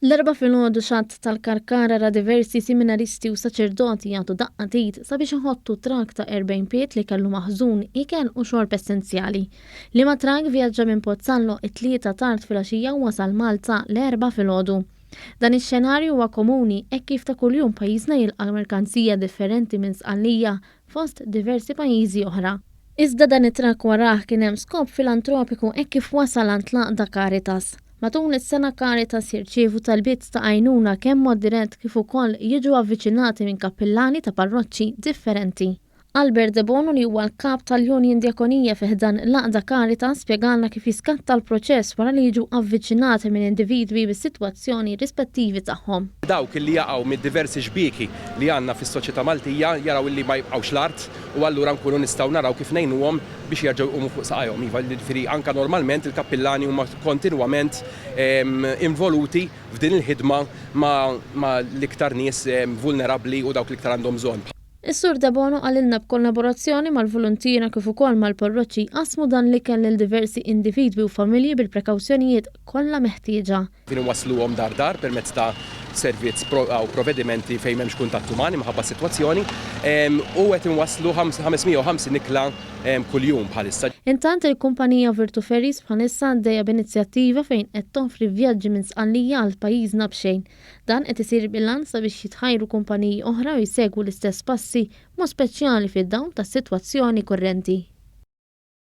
L-erba filgħodu xatt tal-Karkara ra diversi siminaristi u saċerdoti jagħtu daqqa tit sabiex iħottu trak ta' 40 pied li kellu maħżun ikel u xorb essenzjali. Liema trak vjaġġa minn Pozzallo t-Tlieta tard filgħaxija u wasal Malta l-Erbgħa filgħodu. Dan ix-xenarju huwa komuni hekk kif ta' kuljum pajjiżna jilqa' merkanzija differenti minn Sqallija fost diversi pajjiżi oħra. Iżda dan it-trakk warah kien hemm skop filantropiku hekk kif wasal għand l-għaqda Caritas. Matul is-sena Caritas jirċievu talbiet ta' għajnuna kemm mod dirett kif ukoll jiġu avviċinati minn kappillani ta' parroċċi differenti. Albert Debono li huwa l-Kap tal-Union Djakonija fi ħdan l-għaqda Caritas spjegalna kif jiskatta l-proċess wara li jiġu avviċinati minn individwi bis-sitwazzjoni rispettivi tagħhom. Dawk li jaqgħu mid-diversi xbieki li għandna fis-soċjetà Maltija jaraw li ma jibqgħux l-art u allura nkunu nistgħu naraw kif ngħinuhom biex jerġgħu jqumu fuq saqajhom. Iva, jiġifieri anke normalment il-kappillani huma kontinwament involuti f'din il-ħidma ma' l-iktar nies vulnerabbli u dawk li iktar għandhom bżonn. Is-Sur Debono qalilna b'kollaborazzjoni mal-voluntiera kif ukoll mal-parroċċi qasmu dan l-ikel lil diversi individwi u familji bil-prekawzjonijiet kollha meħtieġa. Din inwassluhom dar dar permezz ta' servizz aw provvedimenti fejn m'hemmx kuntatt uman imħabba s-sitwazzjoni u qed inwasslu 550 ikla kuljum bħalissa. Intant il-kumpanija Virtu Ferries bħalissa għaddejja b'inizjattiva fejn qed toffri vjaġġi minn Sqallija għal pajjiżna b'xejn. Dan qed isir bil-għan sabiex jitħajru kumpaniji oħra u jsegwu l-istess passi b'mod speċjali fid-dawl tas-sitwazzjoni kurrenti.